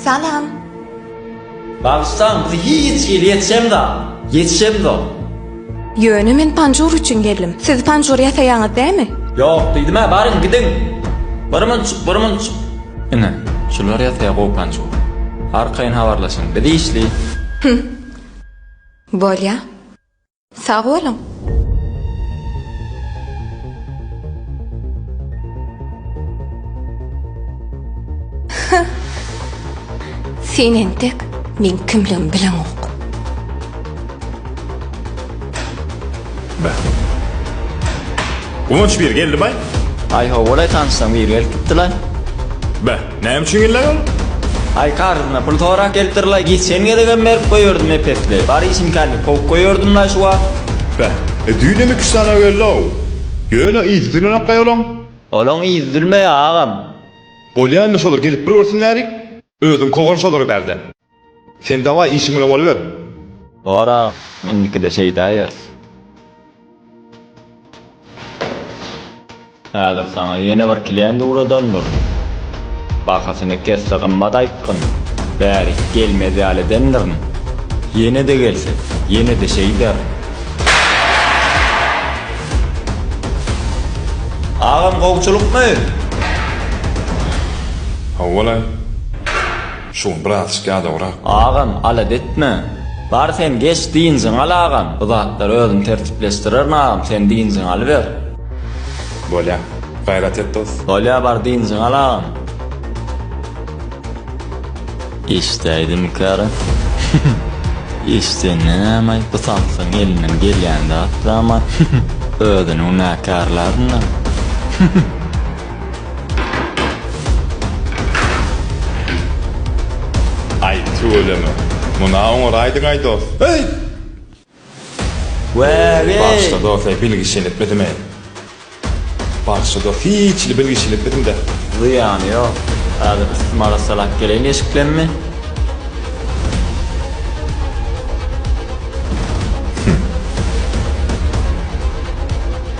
Salam. Bagyşlaň, bizi hiç hili ýetişemzok. Ýetişemzok. Ýöne men panjur üçin geldim. Siz panjur ýasaýaňyz dämi? Ýok, diýdim-ä, baryň, gidiň. Bir munçuk, bir munçuk. Ine, şular ýasaýar gowy panjur. Arkaýyn habarlaşyň, biz işli. Hüm. Bolýa. Sag boluň! Hä! Sen entek meň kimligimi bileňok. Be. Guwanç bir geldi bay. Aý ho, bolaý tanyşsaň bir gelip gitdilaý. Be. Näme üçin geldiň? Aý karzyna pul sorak gelipdirlaý geçen gezegem berip goýerdym epesli bar işimkäni kowup goýerdimlaý şu wagt. Beh, e düýnem iki-üç sany geldi-ow. Ýöne yzy düzülenokkaý olaň? Olaň yzy düzülmeýär agam. Bolýa indi şolar gelip bir görsünlärik. Özüň kowan şolary bärde. Sen daway işiň bilen bolyber. Bar agam indikide şeýdäýeris. Häzir saňa ýene bir klient ugradan dur. Bahasyny kesse gymmat aýtgyn. Bäri gelmez ýaly edendirin. Ýene-de gelse, ýene-de şeýderin. Agam gowçulykmy? Hawa-laý. Şugun bratişka ýadawrak. Agam alada etme. Bar sen geç dynjyňy al agam bu zatlary özüm tertipleşdirerin agam sen dynjyňy alyber. Bolýa. Gaýrat et dos. Bolýa bar dynjyňy al agam. Eşdäýdimikära hyhyh eşden nämaý bu samsygyň elinden gelýän zat zaman hyhyh özüni günäkärlärmina hyhyh. Aý tüweleme. Muna oňar aýdyňaý dos. Heý! Wäge! Bagyşla dos eý bilgiçiliklidimi? Bagyşla dos hiçli bilgiçiliklidimdä. Zyýany ýok. Häzir üstümi arassalap geleýin eşik bilenmi? Hümm.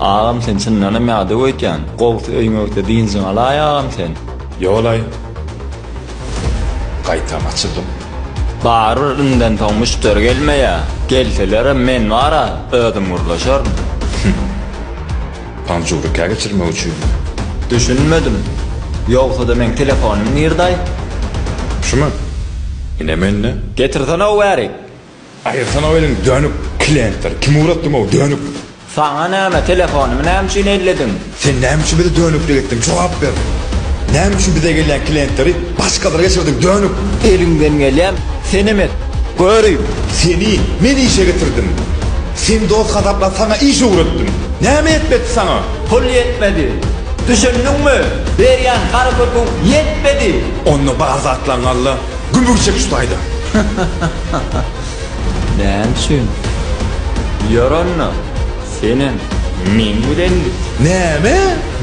Agam sen çyndanam ýa döw öýtýän. Gowusy öýüňe öýtde dynjyňy alaý agam sen. Ýogolaý. Gaýtam açyldym. Barybir indän soň müşderi gelmeýä. Gelselerem men bar-a, özüm gürleşerin. Hümm. Panjuru kä geçirmek üçin. Düşünmedim. Ýogsada meň telefonym nirdaý? Şumy? Ine mende. Getirsene-ow bärik. Aýyrsana-ow eliň dönük. Klientler. Kim ugratdyň-ow dönük. Saňa näme, telefonymy näme üçin ellediň? Sen näme üçin bizi dönüklik etdiň, jogap ber. Näme üçin bize gelýän klientleri başgalara geçirdiň, dönük. Eliňden gelýän, senem et, görüň. Seni men işe getirdim. Sen dost hasapla saňa iş öwretdim. Näme etmedi saňa? Pul ýetmedi. Düşündiňmi? Berýän harypatyň ýetmedi. Onda bar zatlaňy al-da, gümür çek şu taýdan. Näme üçin? Ýör onda, senem meň bilen git. Näme?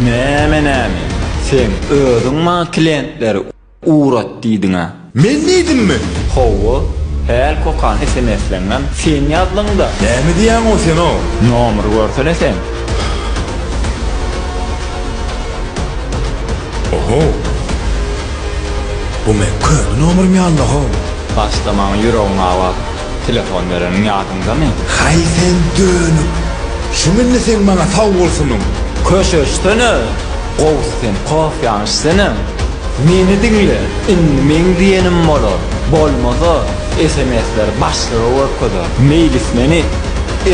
Näme-näme? Sen özüň maňa klientleri. Urat diýdiňä. Men diýdimmi? Hawa. Häl kokany sms-läňňam sen ýazdyňda. Näme diýýäňow senow? Nomry görsene sen. Oho. Bu meň köne nomrym ýalyda-how. Başda maň ýüregim abat. Telefon bereniň ýadyňdamy? Haý sen dönük! Şum indi seň maňa sawgylsynyň! Köşeşsene! Gowsy sen kofýaňy içsene! Meni diňle, indi meň diýenim bolar, bolmasa sms-leri başlyga görkezer, meýlis meni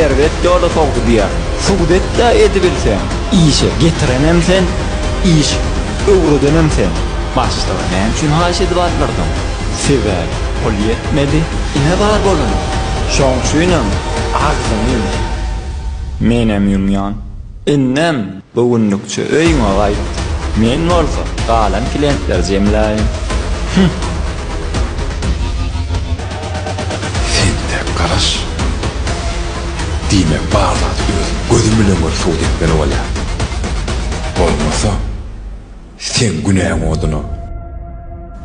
erbet ýola sokdy diýerin. Subut et-dä edibilseň! Işe getirenem sen, iş öwredenem sen! Başlyga näme üçin haýyş edip aldyrdyň? Sebäbi pul ýetmedi. Ine bar bolan. Şoň üçinem agzyňy ýum. Menem ýumýan. Indem bu günlükçe öýüňe gaýt. Men bolsa galan klientleri jemläýin. Hüh! Sen tek garaş. Diýmek bar zady özüň gözüň bilen gör subut etmeli bolýar. Bolmasa. Seň günäň oduna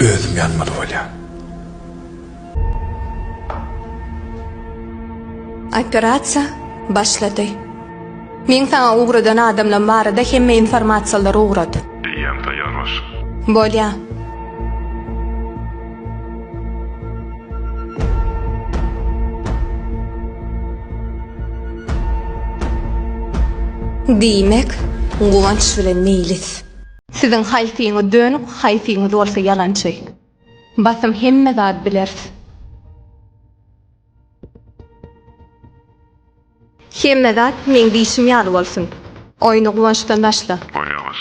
özüm ýanmaly bolýan. Operasiýa başlady. Meň saňa ugradan adamlam barada hemme informasiýalary ugrat. Eýýäm taýýar başym. Bolýa. Diýmek, Guwanç bilen Meýlis. Ýeňiş. Siziň haýsyňyz dönük haýsyňyz bolsa ýalançy. Basym hemme zat bileris. Hemme zat meň diýşim ýaly bolsun. Oýny guwançdan başla. Oýna baş.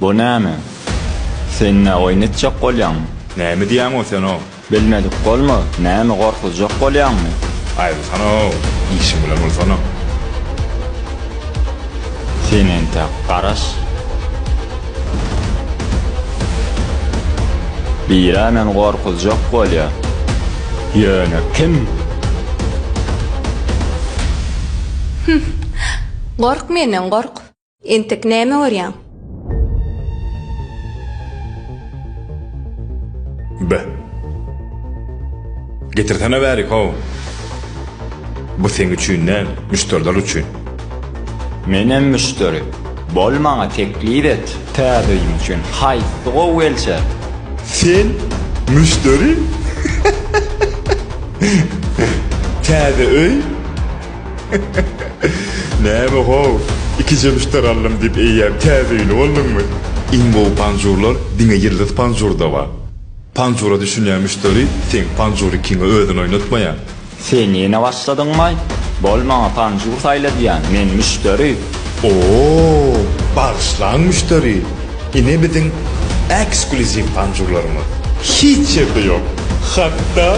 Bu näme? Sen nä oýun etjek bolýaňmy? Näme diýýäň-ow sen-ow? Bilmedik bolma, näme gorkuzjak bolýaňmy? Aýrylsana-ow, işiň bilen bolsana. Sen entäk garaş. Biri-ä meni gorkuzjak bolýar. Ýöne kim? Hüh! Gork menden, gork! Entek näme görýäň? Be. Getirsene bäri, how. Bu seň üçin däl, müşderiler üçin. Menem müşderi. Bol maňa teklip et. Täzeýim üçin haýsy gowy gelse. Sen müşderi? Täze öý? Näme how, iki jebüşdir aldym diýip eýýäm täze öýli bolduňmy? Iň gowy panjurlar diňe Ýyldyz panjurda bar. Panjura düşünýän müşderi seň panjury kiňe özüni oýnatmaýar. Sen ýene başladyňmaý? Bol maňa panjur saýla diýýän, men müşderi. Oo, bagyşlaň müşderi. Ine biziň eksklýuziw panjurlarymyz. Hiç ýerde ýok. Hatda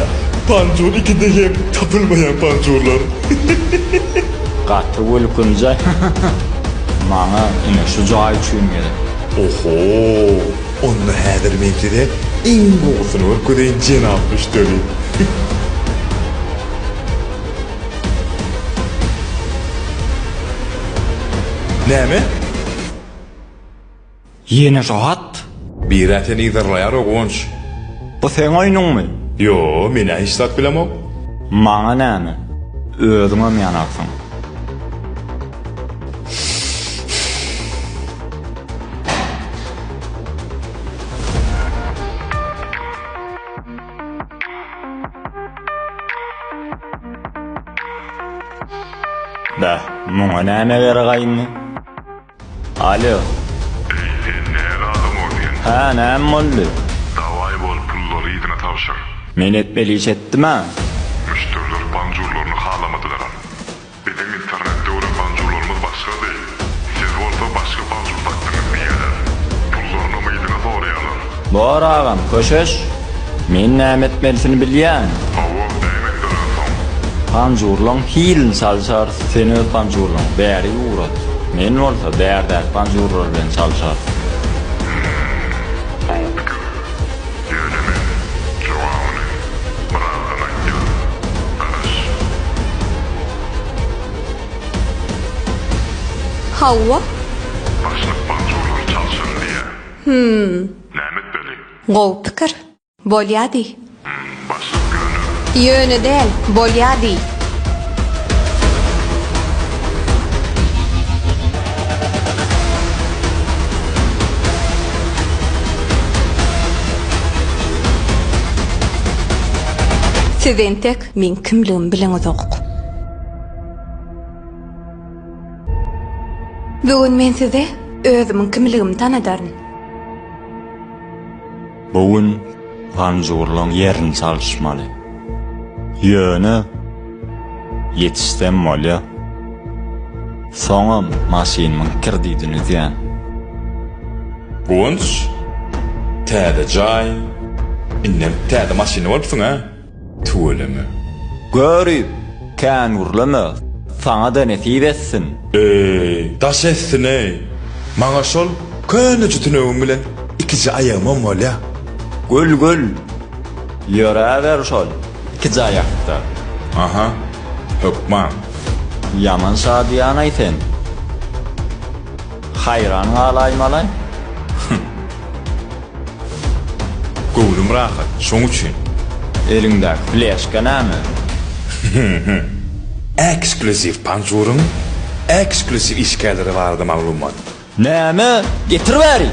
panjur ikide hem tapylmaýan panjurlar. Gaty gülkünje Maňa ine şu jaý üçin gerek. Oho! Onda häzir men size iň gowusyny görkezeýin jenap müşderi. Näme? Ýene şo hat? Birä seni yzarlaýar Ogunç. Bu seň oýnuňmy? Ýo, men-ä hiç zat bilemok. Maňa näme? Özüňem ýanarsyň. Bäh, muňa näme gerek aýndy? Alo. Eý sen näme adam ol sen. Hä näme boldy. Daway bol pullary yzyna tabşyr. Men etmeli iş etdim a. Müşderiler banjurlaryny halamadylaram. Biziň internetde gören banjurlarymyz başgady. Siz bolsa başga banjur dakdyňyz diýýäler. Pullarynam yzyna soraýalar. Bor agam köşeş men näme etmelisini bilýän. Hawa näme etmeliň soň. Panjurlaň hilini çalyşarys sen öz panjurlaňy bäri ugrat men bolsa bärdäki panjurlar bilen çalyşarys. Hmmm gowy pikir. Ýöne men jogabyny birazdan aýtýan. Garaş. Hawa. Başlyk panjurlary çalyşaryn diýýä. Hümm. Näme etmeli? Gowy pikir. Bolýa diý. Hümm, başlyk ýöne. Ýöne däl, bolýa diý. Siz entek meň kimligimi biliňizok. Bugün men size özümiň kimligimi tanadaryn. Bu gün ganjygurlaň ýerini çalyşmaly. Ýöne ýetişsem bolýa. Soňam maşynymyň kredidini üzýän. Guwanç, täze jaý, indem täze maşyny bolupsyň-a? Tüweleme. Göri, kän gürleme, saňa-da nesip etsin. Eý, daş etsin-eý! Maňa şol köneje tünegim bilen ikiji aýagymam bolýa. Gül, gül! Ýöräber şol ikiji aýakda. Aha, hökman. Ýaman şadyýan-aý sen. Haýran galaýmaly. Hüh! Göwnüm rahat, şoň üçin. Eliňdäki fleşka näme? Eksklýuziw panjuryň eksklýuziw işgärleri barada maglumat. Näme? Getir bäri!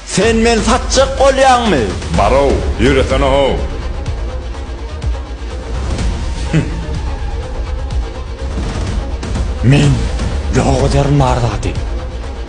Sen meni satjak bolýaňmy? Bar-ow, ýöresene-how! Men ýok ederin bar zady.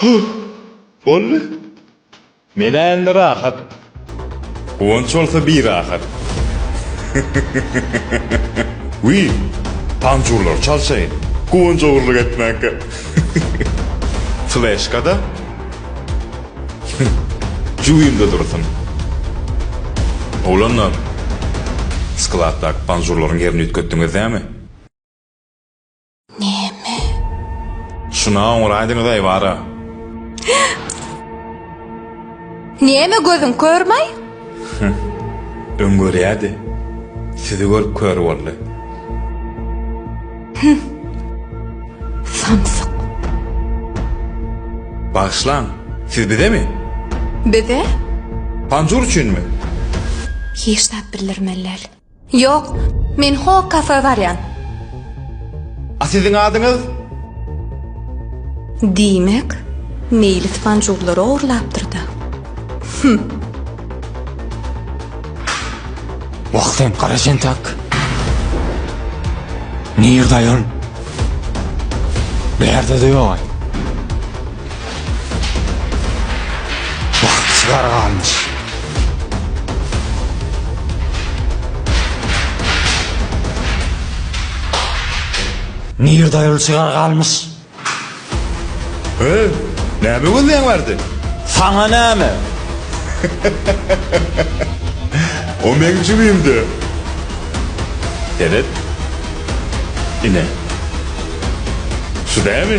Huh! Boldy. Men-ä indi rahat. Guwanç bolsa birahat. Wiý, panjurlary çalşaýyn. Guwanç ogurlyk etmäkä. Fleşka-da? Huh, jübimde dursun. Oglanlar, skladdaky panjurlaryň ýerini üýtgetdiňiz dämi? Näme? Şuna oňraýdyňyz aýwara. Näme gözüň körmaý? Öň görýärdi. Sizi görüp kör boldy. Samsyk. Bagyşlaň, siz bizemi? Bize? Panjur üçinmi? Hiç zat bildirmeli däl. Ýok, men Hog kafe barýan. A siziň adyňyz? Diýmek, Meýlis panjurlary ogurlapdyr-da. Hümm. Wah sen, gara jentak! Nirde aýal? Bärde-de ýog-aý. Bagtyýar galmyş. Nirde ol çygar galmyş? Höý, näme gözleýäň bardy? Saňa näme? O meň jübim-dä. Seret. Ine. Şu dämi?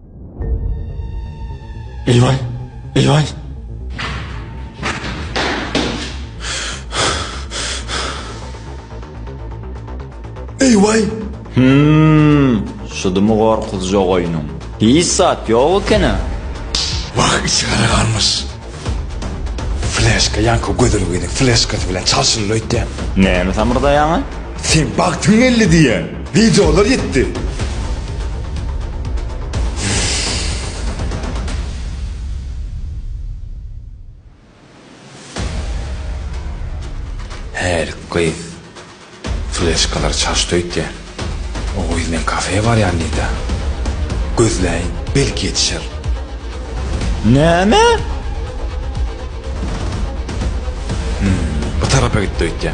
Eýwaý! Eýwaý! Eýwaý! Hümm! Şudymy gorkuzjak oýnuň? Hiç zat ýok ekeni. Wah, içigara galmyş. Fleşka ýaňky gözelgini fleşkasy bilen çalşylyny öýtýän. Näme samyrdaýaňa? Sen bagtyň geldi diýýän. Wideolar ýetdi. Hälik gyz. Fleşkalar çaşdy öýtýä. O gyz men kafeýe barýan diýdä. Gözläýin, belki ýetişer. Näme? Hum, bu tarapa gitdi öýtýä.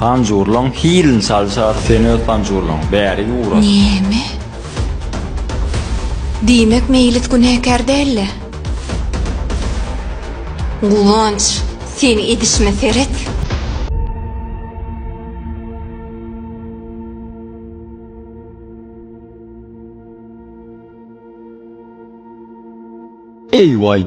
Panjurlaň hilini çalşar sen öz panjurlaň bärik ugra. Näme? Diýmek Meýlis günäkär däldi? Guwanç, sen edişime seret. Eý waý!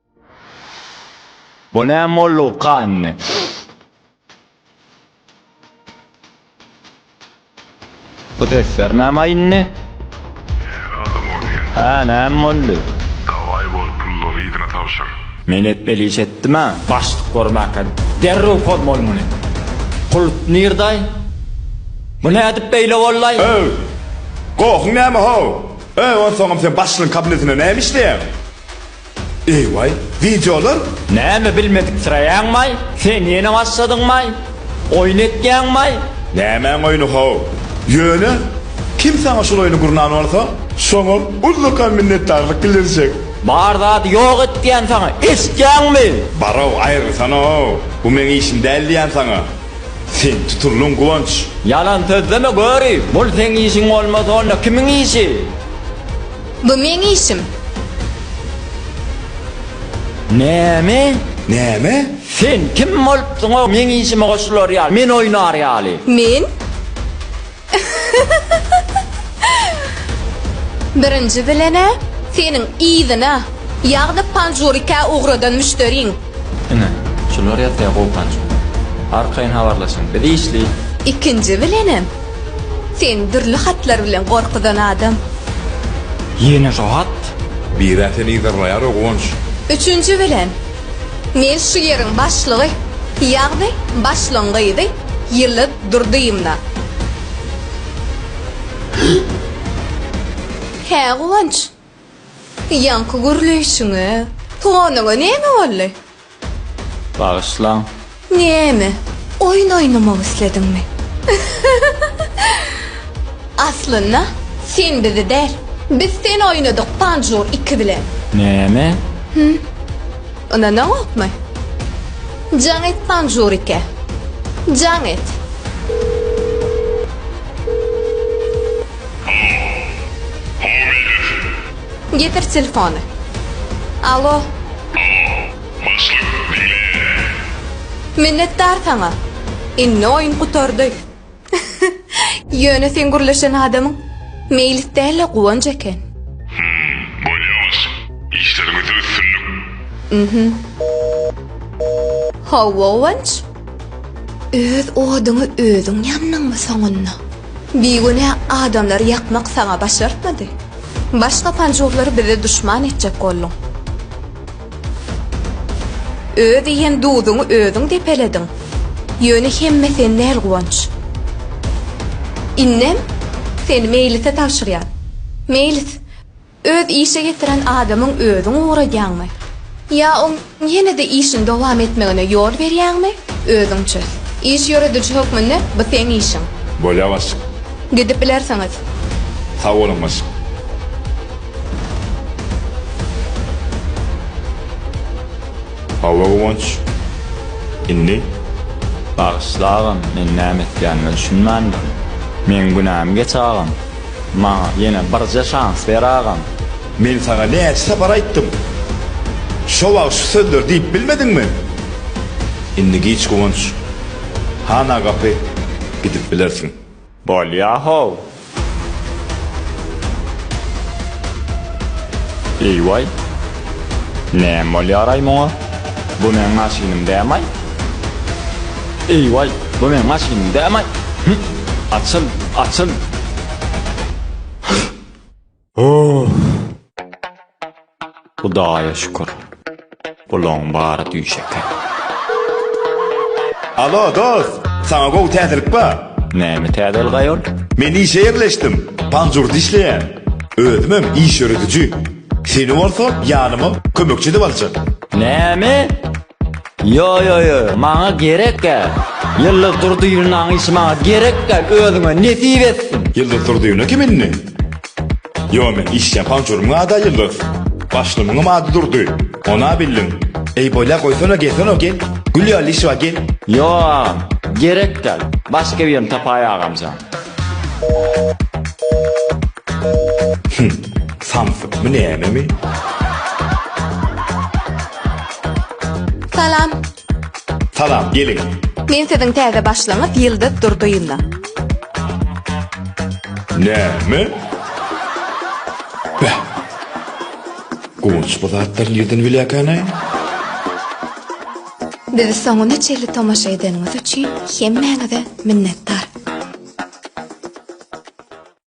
Bu näme boldy uka indi. Bu sesler näme indi. Näme boldy. Hä näme boldy. Daway bol pullary yzyna tabşyr. Men etmeli iş etdimä başlyk bormaka derrew pozmol muny pul nirdaý bu nädip beýle bollaý. Öw! Gohuň näme how? Öý onsoňam sen başlygyň kabinetinde näme işleýäň? Eýwaý, wideolar? Näme bilmediksiraýaňmaý? Sen ýene başladyňmaý? Oýun etýäňmaý? Nämäň oýny how? Ýöne, kim saňa şul oýny gurnan bolsa, şoňa ullakan minnetdarlyk bildirjek. Bar zady ýok et diýän saňa, eşitýäňmi? Bar-ow, aýrylsana-ow, bu meň işim däl diýän saňa. Sen tutuldyň, Guwanç. Ýalan sözleme göri, bul seň işiň bolmasa onda kimiň işi? Bu meň işim. Näme? Näme? Sen kim bolupsyň-ow meň işime goşular ýaly, men oýnar ýaly? Men? Birinji bilen-ä, seniň yzyna, ýagny panjurikä ugradan müşderiň. Ine, şular ýatýar gowy panjur. Arkaýyn habarlaşyň, biz işli. Ikinji bilenem, Sen dürli hatlar bilen gorkuzan adam. Ýene şo hat? Birä seni yzarlaýar-ow, Guwanç. Üçünji bilen, men şu ýeriň başlygy, ýagny başlygyň gyzy Ýyldyz Durdyýewna. Hä, Guwanç? Ýaňky gürleýşiňe, tuganyňa näme boldy? Bagyşlaň. Näme, oýun oýnamak islediňmi? Aslynda, sen bizi däl, biz seni oýnadyk Panjur iki bilen. Näme? Hü. Ynanaňokmy? Jaň et Panjur ikä. Jaň et. Halo. Halo meýletin. Getir telefony. Alo. Alo. Başlyk, diňleýärin. Minnetdar saňa. Indi oýun gutardy. Ýöne seň gürleşen adamyň Meýlis däl-de Guwanç eken. Hum, bolýalar. Işleriňizde üstünlik. Mhum. How Guwanç? Öz oduňy özüň ýandyňmy soňunda? Bigünä adamlary ýakmak saňa başartmady. Başga panjurlary bize duşman etjek bolduň. Öz iýen duzuňy özüň depelediň. Ýöne hemme sen däl, Guwanç. Indem seni Meýlise tabşyrýan. Meýlis, Öz işe getiren adamyň özüň ugradýaňmy? Ýa oň ýene-de işini dowam etmegine ýol berýäňmi? Özüň çöz. Iş ýörediji hökmünde bu seň işiň. Bolýar başlyk. Gidip bilersiňiz. Sag boluň başlyk. Hawa Guwanç. Indi. Bagyşla agam men näme etýänime düşünmändirin. Meň günäm geç agam. Maňa ýene birje şans ber agam. Men saňa näçe sapar aýtdym. Şo wagt şu sözleri diýip bilmediňmi? Indi giç Guwanç hana gapy gidip bilersiň. Bolýa how. Eý waý. Näme bolýaraý muňa? Bu meň maşynym dämaý? Eý-waý, bu meň maşynym dämaý? Hüň, açyl, açyl! Hüh! Hudaýa şükür, bulaň bary düýş eken. Alo, dost! Saňa gowy täzelik bar. Näme täzelik, aýol? Men işe ýerleşdim. Panjurda işleýän. Özümem iş ýörediji. Seni bolsa ýanyma kömekçi edip aljak. Näme? Ýo ýo ýo, maňa gerek gä. Ýyldyz Durdyýewnaň işi maňa gerek gä, özüňe nesip etsin. Ýyldyz Durdyýewna kim indi? Ýo men işleýän pançorymyň ada Ýyldyz. Başlymyňam ady Durdy. Ona bildiň. Eý bolýa goýsana gelsene gel. Gül ýaly işi bar gel. Ýo agam, gerek gäl. Başga birini tapaýa agamjan. Hym. Samsyk bu nämemi? Salam. Salam, geliň. Men siziň täze başlygyňyz Ýyldyz Durdyýewna. Näme? Bäh. Guwanç bu zatlar nirden bilýärkänaý? Bizi soňuna çenli tomaşa edeniňiz üçin hemmäňize minnetdar.